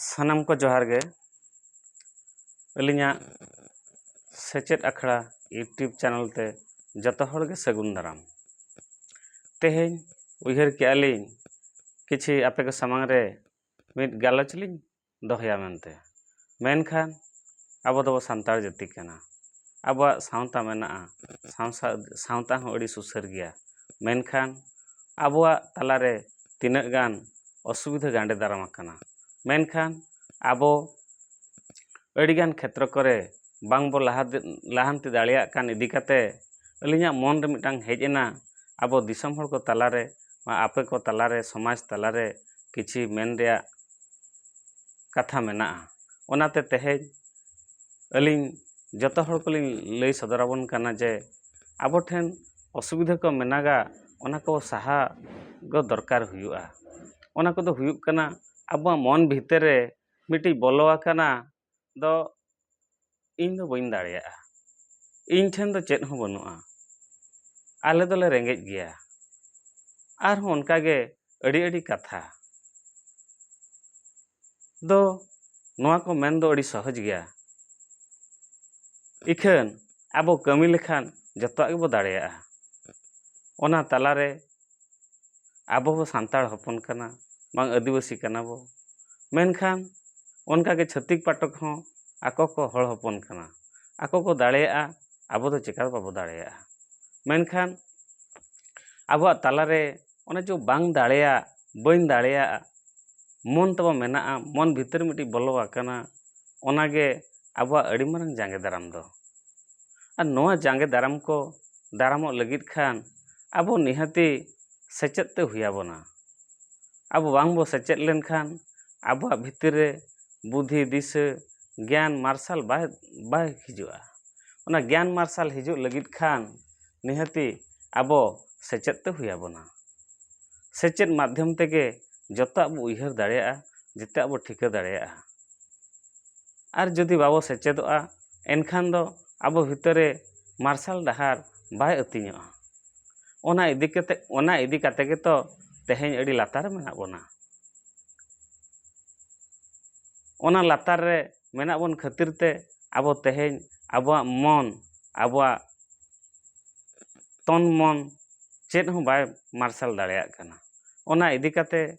ᱥᱟᱱᱟᱢ ᱠᱚ ᱡᱚᱦᱟᱨ ᱜᱮ ᱟᱹᱞᱤᱧᱟᱜ ᱥᱮᱪᱮᱫ ᱟᱠᱷᱲᱟ ᱤᱭᱩᱴᱩᱵᱽ ᱪᱮᱱᱮᱞ ᱛᱮ ᱡᱚᱛᱚ ᱦᱚᱲ ᱜᱮ ᱥᱟᱹᱜᱩᱱ ᱫᱟᱨᱟᱢ ᱛᱮᱦᱮᱧ ᱩᱭᱦᱟᱹᱨ ᱠᱮᱜᱼᱟ ᱞᱤᱧ ᱠᱤᱪᱷᱤ ᱟᱯᱮ ᱠᱚ ᱥᱟᱢᱟᱝ ᱨᱮ ᱢᱤᱫ ᱜᱟᱞᱚᱪ ᱞᱤᱧ ᱫᱚᱦᱚᱭᱟ ᱢᱮᱱᱛᱮ ᱢᱮᱱᱠᱷᱟᱱ ᱟᱵᱚ ᱫᱚ ᱥᱟᱱᱛᱟᱲ ᱡᱟᱹᱛᱤ ᱠᱟᱱᱟ ᱟᱵᱚᱣᱟᱜ ᱥᱟᱶᱛᱟ ᱢᱮᱱᱟᱜᱼᱟ ᱥᱟᱶᱛᱟ ᱦᱚᱸ ᱟᱹᱰᱤ ᱥᱩᱥᱟᱹᱨ ᱜᱮᱭᱟ ᱢᱮᱱᱠᱷᱟᱱ ᱟᱵᱚᱣᱟᱜ ᱛᱟᱞᱟ ᱨᱮ ᱛᱤᱱᱟᱹᱜ ᱜᱟᱱ ᱚᱥᱩᱵᱤᱫᱷᱟ ᱜᱟᱸᱰᱮ ᱫᱟᱨᱟᱢ ᱟᱠᱟᱱᱟ ᱢᱮᱱᱠᱷᱟᱱ ᱟᱵᱚ ᱟᱹᱰᱤ ᱜᱟᱱ ᱠᱷᱮᱛᱨᱚ ᱠᱚᱨᱮ ᱵᱟᱝ ᱵᱚ ᱞᱟᱦᱟ ᱞᱟᱦᱟᱱᱛᱤ ᱫᱟᱲᱮᱭᱟᱜ ᱠᱟᱱ ᱤᱫᱤ ᱠᱟᱛᱮᱫ ᱟᱹᱞᱤᱧᱟᱜ ᱢᱚᱱ ᱨᱮ ᱢᱤᱫᱴᱟᱝ ᱦᱮᱡ ᱮᱱᱟ ᱟᱵᱚ ᱫᱤᱥᱚᱢ ᱦᱚᱲ ᱠᱚ ᱛᱟᱞᱟ ᱨᱮ ᱟᱯᱮ ᱠᱚ ᱛᱟᱞᱟ ᱨᱮ ᱥᱚᱢᱟᱡᱽ ᱛᱟᱞᱟ ᱨᱮ ᱠᱤᱪᱷᱤ ᱢᱮᱱ ᱨᱮᱭᱟᱜ ᱠᱟᱛᱷᱟ ᱢᱮᱱᱟᱜᱼᱟ ᱚᱱᱟᱛᱮ ᱛᱮᱦᱮᱧ ᱟᱹᱞᱤᱧ ᱡᱚᱛᱚ ᱦᱚᱲ ᱠᱚᱞᱤᱧ ᱞᱟᱹᱭ ᱥᱚᱫᱚᱨ ᱟᱵᱚᱱ ᱠᱟᱱᱟ ᱡᱮ ᱟᱵᱚ ᱴᱷᱮᱱ ᱚᱥᱩᱵᱤᱫᱷᱟ ᱠᱚ ᱢᱮᱱᱟᱜᱟ ᱚᱱᱟ ᱠᱚ ᱥᱟᱦᱟ ᱫᱚ ᱫᱚᱨᱠᱟᱨ ᱦᱩᱭᱩᱜᱼᱟ ᱚᱱᱟ ᱠᱚᱫᱚ ᱦᱩᱭᱩᱜ ᱠᱟᱱᱟ ᱟᱵᱚᱣᱟᱜ ᱢᱚᱱ ᱵᱷᱤᱛᱤᱨ ᱨᱮ ᱢᱤᱫᱴᱤᱡ ᱵᱚᱞᱚ ᱟᱠᱟᱱᱟ ᱫᱚ ᱤᱧ ᱫᱚ ᱵᱟᱹᱧ ᱫᱟᱲᱮᱭᱟᱜᱼᱟ ᱤᱧ ᱴᱷᱮᱱ ᱫᱚ ᱪᱮᱫ ᱦᱚᱸ ᱵᱟᱹᱱᱩᱜᱼᱟ ᱟᱞᱮ ᱫᱚᱞᱮ ᱨᱮᱸᱜᱮᱡ ᱜᱮᱭᱟ ᱟᱨᱦᱚᱸ ᱚᱱᱠᱟ ᱜᱮ ᱟᱹᱰᱤ ᱟᱹᱰᱤ ᱠᱟᱛᱷᱟ ᱫᱚ ᱱᱚᱣᱟ ᱠᱚ ᱢᱮᱱ ᱫᱚ ᱟᱹᱰᱤ ᱥᱚᱦᱚᱡᱽ ᱜᱮᱭᱟ ᱤᱠᱷᱟᱹᱱ ᱟᱵᱚ ᱠᱟᱹᱢᱤ ᱞᱮᱠᱷᱟᱱ ᱡᱚᱛᱚᱣᱟᱜ ᱜᱮᱵᱚ ᱫᱟᱲᱮᱭᱟᱜᱼᱟ ᱚᱱᱟ ᱛᱟᱞᱟ ᱨᱮ ᱟᱵᱚ ᱦᱚᱸ ᱥᱟᱱᱛᱟᱲ ᱦᱚᱯᱚᱱ ᱠᱟᱱᱟ ᱵᱟᱝ ᱟᱹᱫᱤᱵᱟᱹᱥᱤ ᱠᱟᱱᱟ ᱵᱚ ᱢᱮᱱᱠᱷᱟᱱ ᱚᱱᱠᱟ ᱜᱮ ᱪᱷᱟᱹᱛᱤᱠ ᱯᱟᱴᱚᱠ ᱦᱚᱸ ᱟᱠᱚ ᱠᱚ ᱦᱚᱲ ᱦᱚᱯᱚᱱ ᱠᱟᱱᱟ ᱟᱠᱚ ᱠᱚ ᱫᱟᱲᱮᱭᱟᱜᱼᱟ ᱟᱵᱚ ᱫᱚ ᱪᱮᱠᱟ ᱵᱟᱵᱚ ᱫᱟᱲᱮᱭᱟᱜᱼᱟ ᱢᱮᱱᱠᱷᱟᱱ ᱟᱵᱚᱣᱟᱜ ᱛᱟᱞᱟ ᱨᱮ ᱚᱱᱮ ᱪᱚ ᱵᱟᱝ ᱫᱟᱲᱮᱭᱟᱜ ᱵᱟᱹᱧ ᱫᱟᱲᱮᱭᱟᱜ ᱢᱚᱱ ᱛᱟᱵᱚ ᱢᱮᱱᱟᱜᱼᱟ ᱢᱚᱱ ᱵᱷᱤᱛᱟᱹᱨ ᱢᱤᱫᱴᱤᱡ ᱵᱚᱞᱚ ᱟᱠᱟᱱᱟ ᱚᱱᱟ ᱜᱮ ᱟᱵᱚᱣᱟᱜ ᱟᱹᱰᱤ ᱢᱟᱨᱟᱝ ᱡᱟᱸᱜᱮ ᱫᱟᱨᱟᱢ ᱫᱚ ᱟᱨ ᱱᱚᱣᱟ ᱡᱟᱸᱜᱮ ᱫᱟᱨᱟᱢ ᱠᱚ ᱫᱟᱨᱟᱢᱚᱜ ᱞᱟᱹᱜᱤᱫ ᱠᱷᱟᱱ ᱟᱵᱚ ᱱᱤᱦᱟᱹᱛᱤ ᱥᱮᱪᱮᱫ ᱛᱮ ᱦᱩᱭ ᱟᱵᱚᱱᱟ ᱟᱵᱚ ᱵᱟᱝ ᱵᱚᱱ ᱥᱮᱪᱮᱫ ᱞᱮᱱᱠᱷᱟᱱ ᱟᱵᱚᱣᱟᱜ ᱵᱷᱤᱛᱤᱨ ᱨᱮ ᱵᱩᱫᱷᱤ ᱫᱤᱥᱟᱹ ᱜᱮᱭᱟᱱ ᱢᱟᱨᱥᱟᱞ ᱵᱟᱭ ᱵᱟᱭ ᱦᱤᱡᱩᱜᱼᱟ ᱚᱱᱟ ᱜᱮᱭᱟᱱ ᱢᱟᱨᱥᱟᱞ ᱦᱤᱡᱩᱜ ᱞᱟᱹᱜᱤᱫ ᱠᱷᱟᱱ ᱱᱤᱦᱟᱹᱛᱤ ᱟᱵᱚ ᱥᱮᱪᱮᱫ ᱛᱮ ᱦᱩᱭ ᱟᱵᱚᱱᱟ ᱥᱮᱪᱮᱫ ᱢᱟᱫᱽᱫᱷᱚᱢ ᱛᱮᱜᱮ ᱡᱚᱛᱚᱣᱟᱜ ᱵᱚᱱ ᱩᱭᱦᱟᱹᱨ ᱫᱟᱲᱮᱭᱟᱜᱼᱟ ᱡᱚᱛᱚᱣᱟᱜ ᱵᱚᱱ ᱴᱷᱤᱠᱟᱹ ᱫᱟᱲᱮᱭᱟᱜᱼᱟ ᱟᱨ ᱡᱩᱫᱤ ᱵᱟᱵᱚ ᱥᱮᱪᱮᱫᱚᱜᱼᱟ ᱮᱱᱠᱷᱟᱱ ᱫᱚ ᱟᱵᱚ ᱵᱷᱤᱛᱟᱹᱨ ᱨᱮ ᱢᱟᱨᱥᱟᱞ ᱰᱟᱦᱟᱨ ᱵᱟᱭ ᱟᱹᱛᱤᱧᱚᱜᱼᱟ ᱚᱱᱟ ᱤᱫᱤ ᱠᱟᱛᱮᱫ ᱚᱱᱟ ᱤᱫᱤ ᱠᱟᱛᱮᱫ ᱜᱮᱛᱚ ᱛᱮᱦᱮᱧ ᱟᱹᱰᱤ ᱞᱟᱛᱟᱨ ᱨᱮ ᱢᱮᱱᱟᱜ ᱵᱚᱱᱟ ᱚᱱᱟ ᱞᱟᱛᱟᱨ ᱨᱮ ᱢᱮᱱᱟᱜ ᱵᱚᱱ ᱠᱷᱟᱹᱛᱤᱨ ᱛᱮ ᱟᱵᱚ ᱛᱮᱦᱮᱧ ᱟᱵᱚᱣᱟᱜ ᱢᱚᱱ ᱟᱵᱚᱣᱟᱜ ᱛᱚᱱ ᱢᱚᱱ ᱪᱮᱫ ᱦᱚᱸ ᱵᱟᱭ ᱢᱟᱨᱥᱟᱞ ᱫᱟᱲᱮᱭᱟᱜ ᱠᱟᱱᱟ ᱚᱱᱟ ᱤᱫᱤ ᱠᱟᱛᱮᱫ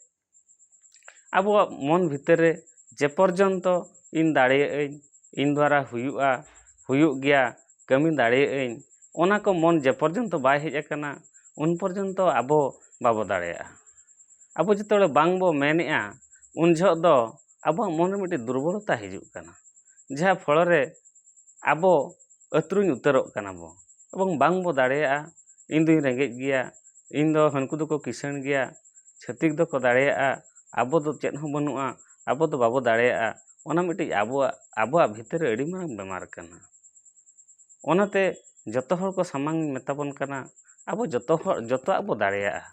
ᱟᱵᱚᱣᱟᱜ ᱢᱚᱱ ᱵᱷᱤᱛᱟᱹᱨ ᱨᱮ ᱡᱮ ᱯᱚᱨᱡᱚᱱᱛᱚ ᱤᱧ ᱫᱟᱲᱮᱭᱟᱜᱼᱟᱹᱧ ᱤᱧ ᱫᱚᱣᱟᱨᱟ ᱦᱩᱭᱩᱜᱼᱟ ᱦᱩᱭᱩᱜ ᱜᱮᱭᱟ ᱠᱟᱹᱢᱤ ᱫᱟᱲᱮᱭᱟᱜᱼᱟᱹᱧ ᱚᱱᱟ ᱠᱚ ᱢᱚᱱ ᱡᱮ ᱯᱚᱨᱡᱚᱱᱛᱚ ᱵᱟᱭ ᱦᱮᱡ ᱟᱠᱟᱱᱟ ᱩᱱ ᱯᱚᱨᱡᱚᱱᱛᱚ ᱟᱵᱚ ᱵᱟᱵᱚ ᱫᱟᱲᱮᱭᱟᱜᱼᱟ ᱟᱵᱚ ᱡᱚᱛᱚ ᱦᱚᱲ ᱵᱟᱝ ᱵᱚ ᱢᱮᱱᱮᱫᱼᱟ ᱩᱱ ᱡᱚᱦᱚᱜ ᱫᱚ ᱟᱵᱚᱣᱟᱜ ᱢᱚᱱ ᱨᱮ ᱢᱤᱫᱴᱮᱱ ᱫᱩᱨᱵᱚᱞᱚᱛᱟ ᱦᱤᱡᱩᱜ ᱠᱟᱱᱟ ᱡᱟᱦᱟᱸ ᱯᱷᱚᱞᱚ ᱨᱮ ᱟᱵᱚ ᱟᱹᱛᱨᱩᱧ ᱩᱛᱟᱹᱨᱚᱜ ᱠᱟᱱᱟ ᱵᱚ ᱮᱵᱚᱝ ᱵᱟᱝ ᱵᱚ ᱫᱟᱲᱮᱭᱟᱜᱼᱟ ᱤᱧ ᱫᱩᱧ ᱨᱮᱸᱜᱮᱡ ᱜᱮᱭᱟ ᱤᱧ ᱫᱚ ᱦᱟᱹᱱᱠᱩ ᱫᱚᱠᱚ ᱠᱤᱥᱟᱹᱬ ᱜᱮᱭᱟ ᱪᱷᱟᱹᱛᱤᱠ ᱫᱚᱠᱚ ᱫᱟᱲᱮᱭᱟᱜᱼᱟ ᱟᱵᱚ ᱫᱚ ᱪᱮᱫ ᱦᱚᱸ ᱵᱟᱹᱱᱩᱜᱼᱟ ᱟᱵᱚ ᱫᱚ ᱵᱟᱵᱚ ᱫᱟᱲᱮᱭᱟᱜᱼᱟ ᱚᱱᱟ ᱢᱤᱫᱴᱤᱡ ᱟᱵᱚᱣᱟᱜ ᱟᱵᱚᱣᱟᱜ ᱵᱷᱤᱛᱤᱨ ᱨᱮ ᱟᱹᱰᱤ ᱢᱟᱨᱟᱝ ᱵᱮᱢᱟᱨ ᱠᱟᱱᱟ ᱚᱱᱟᱛᱮ ᱡᱚᱛᱚ ᱦᱚᱲ ᱠᱚ ᱥᱟᱢᱟᱝ ᱢᱮᱛᱟ ᱵᱚᱱ ᱠᱟᱱᱟ ᱟᱵᱚ ᱡᱚᱛᱚ ᱦᱚᱲ ᱡᱚᱛᱚᱣᱟᱜ ᱵᱚ ᱫᱟᱲᱮᱭᱟᱜᱼᱟ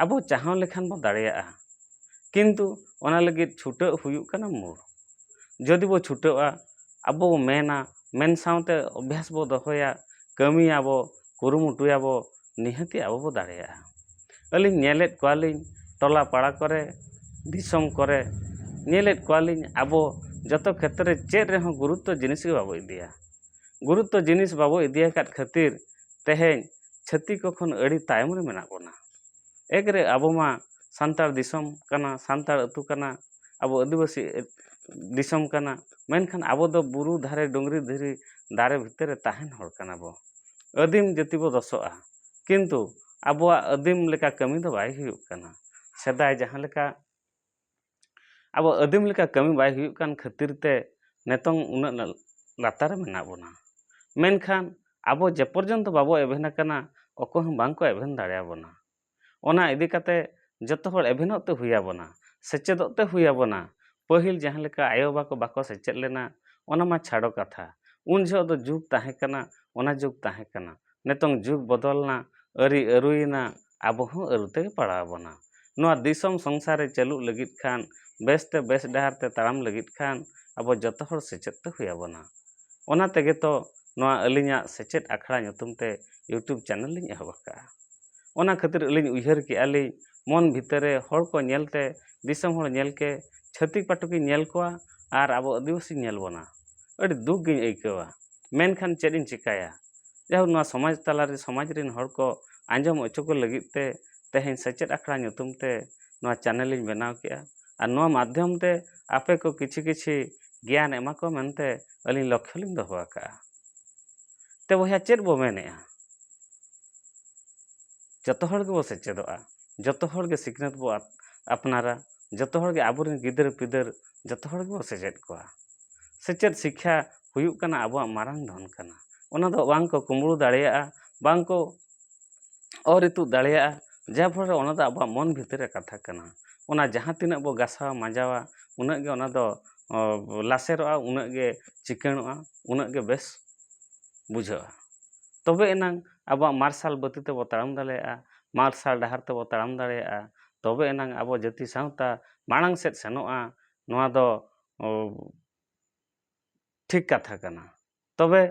ᱟᱵᱚ ᱪᱟᱦᱟᱣ ᱞᱮᱠᱷᱟᱱ ᱵᱚ ᱫᱟᱲᱮᱭᱟᱜᱼᱟ ᱠᱤᱱᱛᱩ ᱚᱱᱟ ᱞᱟᱹᱜᱤᱫ ᱪᱷᱩᱴᱟᱹᱜ ᱦᱩᱭᱩᱜ ᱠᱟᱱᱟ ᱢᱩᱬ ᱡᱩᱫᱤ ᱵᱚ ᱪᱷᱩᱴᱟᱹᱜᱼᱟ ᱟᱵᱚ ᱵᱚ ᱢᱮᱱᱟ ᱢᱮᱱ ᱥᱟᱶᱛᱮ ᱚᱵᱵᱷᱟᱥ ᱵᱚ ᱫᱚᱦᱚᱭᱟ ᱠᱟᱹᱢᱤᱭᱟᱵᱚ ᱠᱩᱨᱩᱢᱩᱴᱩᱭᱟᱵᱚ ᱱᱤᱦᱟᱹᱛᱤ ᱟᱵᱚ ᱵᱚ ᱫᱟᱲᱮᱭᱟᱜᱼᱟ ᱟᱹᱞᱤᱧ ᱧᱮᱞᱮᱫ ᱠᱚᱣᱟᱞᱤᱧ ᱴᱚᱞᱟ ᱯᱟᱲᱟ ᱠᱚᱨᱮ ᱫᱤᱥᱚᱢ ᱠᱚᱨᱮ ᱧᱮᱞᱮᱫ ᱠᱚᱣᱟᱞᱤᱧ ᱟᱵᱚ ᱡᱚᱛᱚ ᱠᱷᱮᱛᱨᱮ ᱨᱮ ᱪᱮᱫ ᱨᱮᱦᱚᱸ ᱜᱩᱨᱩᱛᱛᱚ ᱡᱤᱱᱤᱥ ᱜᱮ ᱵᱟᱵᱚ ᱤᱫᱤᱭᱟ ᱜᱩᱨᱩᱛᱛᱚ ᱡᱤᱱᱤᱥ ᱵᱟᱵᱚ ᱤᱫᱤᱭᱟᱠᱟᱫ ᱠᱷᱟᱹᱛᱤᱨ ᱛᱮᱦᱮᱧ ᱪᱷᱟᱹᱛᱤᱠ ᱠᱚ ᱠᱷᱚᱱ ᱟᱹᱰᱤ ᱛᱟᱭᱚᱢ ᱨᱮ ᱢᱮᱱᱟᱜ ᱵᱚᱱᱟ ᱮᱠ ᱨᱮ ᱟᱵᱚ ᱢᱟ ᱥᱟᱱᱛᱟᱲ ᱫᱤᱥᱚᱢ ᱠᱟᱱᱟ ᱥᱟᱱᱛᱟᱲ ᱟᱹᱛᱩ ᱠᱟᱱᱟ ᱟᱵᱚ ᱟᱹᱫᱤᱵᱟᱹᱥᱤ ᱫᱤᱥᱚᱢ ᱠᱟᱱᱟ ᱢᱮᱱᱠᱷᱟᱱ ᱟᱵᱚ ᱫᱚ ᱵᱩᱨᱩ ᱫᱷᱟᱨᱮ ᱰᱩᱝᱨᱤ ᱫᱷᱤᱨᱤ ᱫᱟᱨᱮ ᱵᱷᱤᱛᱤᱨ ᱨᱮ ᱛᱟᱦᱮᱱ ᱦᱚᱲ ᱠᱟᱱᱟ ᱵᱚ ᱟᱹᱫᱤᱢ ᱡᱟᱹᱛᱤ ᱵᱚ ᱫᱚᱥᱚᱜᱼᱟ ᱠᱤᱱᱛᱩ ᱟᱵᱚᱣᱟᱜ ᱟᱹᱫᱤᱢ ᱞᱮᱠᱟ ᱠᱟᱹᱢᱤ ᱫᱚ ᱵᱟᱭ ᱦᱩᱭᱩᱜ ᱠᱟᱱᱟ ᱥᱮᱫᱟᱭ ᱡᱟᱦᱟᱸ ᱞᱮᱠᱟ ᱟᱵᱚ ᱟᱹᱫᱤᱢ ᱞᱮᱠᱟ ᱠᱟᱹᱢᱤ ᱵᱟᱭ ᱦᱩᱭᱩᱜ ᱠᱟᱱ ᱠᱷᱟᱹᱛᱤᱨ ᱛᱮ ᱱᱤᱛᱚᱝ ᱩᱱᱟᱹᱜ ᱞᱟᱛᱟᱨ ᱨᱮ ᱢᱮᱱᱟᱜ ᱵᱚᱱᱟ ᱢᱮᱱᱠᱷᱟᱱ ᱟᱵᱚ ᱡᱮ ᱯᱚᱨᱡᱚᱱᱛᱚ ᱵᱟᱵᱚ ᱮᱵᱷᱮᱱ ᱟᱠᱟᱱᱟ ᱚᱠᱚᱭ ᱦᱚᱸ ᱵᱟᱝᱠᱚ ᱮᱵᱷᱮᱱ ᱫᱟᱲᱮᱭᱟᱵᱚᱱᱟ ᱚᱱᱟ ᱤᱫᱤ ᱠᱟᱛᱮ ᱡᱚᱛᱚ ᱦᱚᱲ ᱮᱵᱷᱮᱱᱚᱜ ᱛᱮ ᱦᱩᱭ ᱟᱵᱚᱱᱟ ᱥᱮᱪᱮᱫᱚᱜ ᱛᱮ ᱦᱩᱭ ᱟᱵᱚᱱᱟ ᱯᱟᱹᱦᱤᱞ ᱡᱟᱦᱟᱸ ᱞᱮᱠᱟ ᱟᱭᱳ ᱵᱟᱵᱟ ᱠᱚ ᱵᱟᱠᱚ ᱥᱮᱪᱮᱫ ᱞᱮᱱᱟ ᱚᱱᱟ ᱢᱟ ᱪᱷᱟᱰᱚ ᱠᱟᱛᱷᱟ ᱩᱱ ᱡᱚᱦᱚᱜ ᱫᱚ ᱡᱩᱜᱽ ᱛᱟᱦᱮᱸ ᱠᱟᱱᱟ ᱚᱱᱟ ᱡᱩᱜᱽ ᱛᱟᱦᱮᱸ ᱠᱟᱱᱟ ᱱᱤᱛᱚᱝ ᱡᱩᱜᱽ ᱵᱚᱫᱚᱞ ᱮᱱᱟ ᱟᱹᱨᱤ ᱟᱹᱨᱩᱭᱮᱱᱟ ᱟᱵᱚ ᱦᱚᱸ ᱟᱹᱨᱩ ᱛᱮᱜᱮ ᱯᱟᱲᱟᱣ ᱟᱵᱚᱱᱟ ᱱᱚᱣᱟ ᱫᱤᱥᱚᱢ ᱥᱚᱝᱥᱟᱨ ᱨᱮ ᱪᱟᱹᱞᱩᱜ ᱞᱟᱹᱜᱤᱫ ᱠᱷᱟᱱ ᱵᱮᱥ ᱛᱮ ᱵᱮᱥ ᱰᱟᱦᱟᱨ ᱛᱮ ᱛᱟᱲᱟᱢ ᱞᱟᱹᱜᱤᱫ ᱠᱷᱟᱱ ᱟᱵᱚ ᱡᱚᱛᱚ ᱦᱚᱲ ᱥᱮᱪᱮᱫ ᱛᱮ ᱦᱩᱭ ᱟᱵᱚᱱᱟ ᱚᱱᱟ ᱛᱮᱜᱮ ᱛᱚ ᱱᱚᱣᱟ ᱟᱹᱞᱤᱧᱟᱜ ᱥᱮᱪᱮᱫ ᱟᱠᱷᱲᱟ ᱧᱩᱛᱩᱢ ᱛᱮ ᱤᱭᱩᱴᱩᱵᱽ ᱪᱮᱱᱮᱞ ᱞᱤᱧ ᱮᱦᱚᱵ ᱟᱠᱟᱫᱼᱟ ᱚᱱᱟ ᱠᱷᱟᱹᱛᱤᱨ ᱟᱹᱞᱤᱧ ᱩᱭᱦᱟᱹᱨ ᱠᱮᱜᱼᱟ ᱞᱤᱧ ᱢᱚᱱ ᱵᱷᱤᱛᱟᱹᱨ ᱨᱮ ᱦᱚᱲ ᱠᱚ ᱧᱮᱞ ᱛᱮ ᱫᱤᱥᱚᱢ ᱦᱚᱲ ᱧᱮᱞ ᱛᱮ ᱪᱷᱟᱹᱛᱤᱠ ᱯᱟᱹᱴᱤ ᱠᱚᱧ ᱧᱮᱞ ᱠᱚᱣᱟ ᱟᱨ ᱟᱵᱚ ᱟᱹᱫᱤᱵᱟᱹᱥᱤ ᱧᱮᱞ ᱵᱚᱱᱟ ᱟᱹᱰᱤ ᱫᱩᱠ ᱜᱮᱧ ᱟᱹᱭᱠᱟᱹᱣᱟ ᱢᱮᱱᱠᱷᱟᱱ ᱪᱮᱫ ᱤᱧ ᱪᱤᱠᱟᱹᱭᱟ ᱡᱟᱭᱦᱳᱠ ᱱᱚᱣᱟ ᱥᱚᱢᱟᱡᱽ ᱛᱟᱞᱟ ᱨᱮ ᱥᱚᱢᱟᱡᱽ ᱨᱮᱱ ᱦᱚᱲ ᱠᱚ ᱟᱸᱡᱚᱢ ᱦᱚᱪᱚ ᱠᱚ ᱞᱟᱹᱜᱤᱫ ᱛᱮ ᱛᱮᱦᱮᱧ ᱥᱮᱪᱮᱫ ᱟᱠᱷᱲᱟ ᱧᱩᱛᱩᱢ ᱛᱮ ᱱᱚᱣᱟ ᱪᱮᱱᱮᱞ ᱤᱧ ᱵᱮᱱᱟᱣ ᱠᱮᱜᱼᱟ ᱟᱨ ᱱᱚᱣᱟ ᱢᱟᱫᱽᱫᱷᱚᱢ ᱛᱮ ᱟᱯᱮ ᱠᱚ ᱠᱤᱪᱷᱤ ᱠᱤᱪᱷᱤ ᱜᱮᱭᱟᱱ ᱮᱢᱟ ᱠᱚ ᱢᱮᱱᱛᱮ ᱟᱹᱞᱤᱧ ᱞᱚᱠᱠᱷᱚ ᱞᱤᱧ ᱫᱚᱦᱚ ᱟᱠᱟᱜᱼᱟ ᱛᱮ ᱵᱚᱭᱦᱟ ᱪᱮᱫ ᱵᱚ ᱢᱮᱱᱮᱜᱼᱟ ᱡᱚᱛᱚ ᱦᱚᱲ ᱜᱮᱵᱚ ᱥᱮᱪᱮᱫᱚᱜᱼᱟ ᱡᱚᱛᱚ ᱦᱚᱲ ᱜᱮ ᱥᱤᱠᱷᱱᱟᱹᱛ ᱵᱚ ᱟᱯᱱᱟᱨᱟ ᱡᱚᱛᱚ ᱦᱚᱲ ᱜᱮ ᱟᱵᱚᱨᱮᱱ ᱜᱤᱫᱟᱹᱨ ᱯᱤᱫᱟᱹᱨ ᱡᱚᱛᱚ ᱦᱚᱲ ᱜᱮᱵᱚ ᱥᱮᱪᱮᱫ ᱠᱚᱣᱟ ᱥᱮᱪᱮᱫ ᱥᱤᱠᱠᱷᱟ ᱦᱩᱭᱩᱜ ᱠᱟᱱᱟ ᱟᱵᱚᱣᱟᱜ ᱢᱟᱨᱟᱝ ᱫᱷᱚᱱ ᱠᱟᱱᱟ ᱚᱱᱟ ᱫᱚ ᱵᱟᱝ ᱠᱚ ᱠᱩᱢᱵᱽᱲᱩ ᱫᱟᱲᱮᱭᱟᱜᱼᱟ ᱵᱟᱝ ᱠᱚ ᱚᱨ ᱤᱛᱩᱫ ᱫᱟᱲᱮᱭᱟᱜᱼᱟ ᱡᱟᱨ ᱯᱷᱚᱞ ᱨᱮ ᱚᱱᱟ ᱫᱚ ᱟᱵᱚᱣᱟᱜ ᱢᱚᱱ ᱵᱷᱤᱛᱤᱨ ᱨᱮ ᱠᱟᱛᱷᱟ ᱠᱟᱱᱟ ᱚᱱᱟ ᱡᱟᱦᱟᱸ ᱛᱤᱱᱟᱹᱜ ᱵᱚ ᱜᱟᱥᱟᱣᱟ ᱢᱟᱡᱟᱣᱟ ᱩᱱᱟᱹᱜ ᱜᱮ ᱚᱱᱟ ᱫᱚ ᱞᱟᱥᱮᱨᱚᱜᱼᱟ ᱩᱱᱟᱹᱜ ᱜᱮ ᱪᱤᱠᱟᱹᱬᱚᱜᱼᱟ ᱩᱱᱟᱹᱜ ᱜᱮ ᱵᱮᱥ ᱵᱩᱡᱷᱟᱹᱜᱼᱟ ᱛᱚᱵᱮ ᱮᱱᱟᱝ ᱟᱵᱚᱣᱟᱜ ᱢᱟᱨᱥᱟᱞ ᱵᱟᱹᱛᱤ ᱛᱮᱵᱚᱱ ᱛᱟᱲᱟᱢ ᱫᱟᱲᱮᱭᱟᱜᱼᱟ ᱢᱟᱨᱥᱟᱞ ᱰᱟᱦᱟᱨ ᱛᱮᱵᱚᱱ ᱛᱟᱲᱟᱢ ᱫᱟᱲᱮᱭᱟᱜᱼᱟ ᱛᱚᱵᱮ ᱮᱱᱟᱝ ᱟᱵᱚ ᱡᱟᱹᱛᱤ ᱥᱟᱶᱛᱟ ᱢᱟᱲᱟᱝ ᱥᱮᱫ ᱥᱮᱱᱚᱜᱼᱟ ᱱᱚᱣᱟ ᱫᱚ ᱴᱷᱤᱠ ᱠᱟᱛᱷᱟ ᱠᱟᱱᱟ ᱛᱚᱵᱮ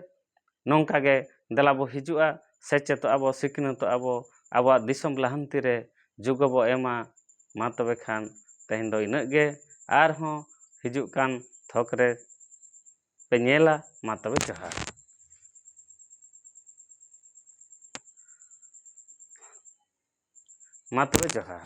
ᱱᱚᱝᱠᱟ ᱜᱮ ᱫᱮᱞᱟ ᱵᱚ ᱦᱤᱡᱩᱜᱼᱟ ᱥᱮᱪᱮᱫᱚᱜᱼᱟ ᱵᱚ ᱥᱤᱠᱷᱱᱟᱹᱛᱚᱜᱼᱟ ᱵᱚ ᱟᱵᱚᱣᱟᱜ ᱫᱤᱥᱚᱢ ᱞᱟᱦᱟᱱᱛᱤ ᱨᱮ ᱡᱳᱜᱽ ᱵᱚ ᱮᱢᱟ ᱢᱟ ᱛᱚᱵᱮ ᱠᱷᱟᱱ ᱛᱮᱦᱮᱧ ᱫᱚ ᱤᱱᱟᱹᱜ ᱜᱮ ᱟᱨ ᱦᱚᱸ ᱦᱤᱡᱩᱜ ᱠᱟᱱ ᱛᱷᱚᱠ ᱨᱮ ᱯᱮ ᱧᱮᱞᱟ ᱢᱟ ᱛᱚᱵᱮ ᱡᱚᱦᱟᱨ ᱢᱟ ᱛᱚᱵᱮ ᱡᱚᱦᱟᱨ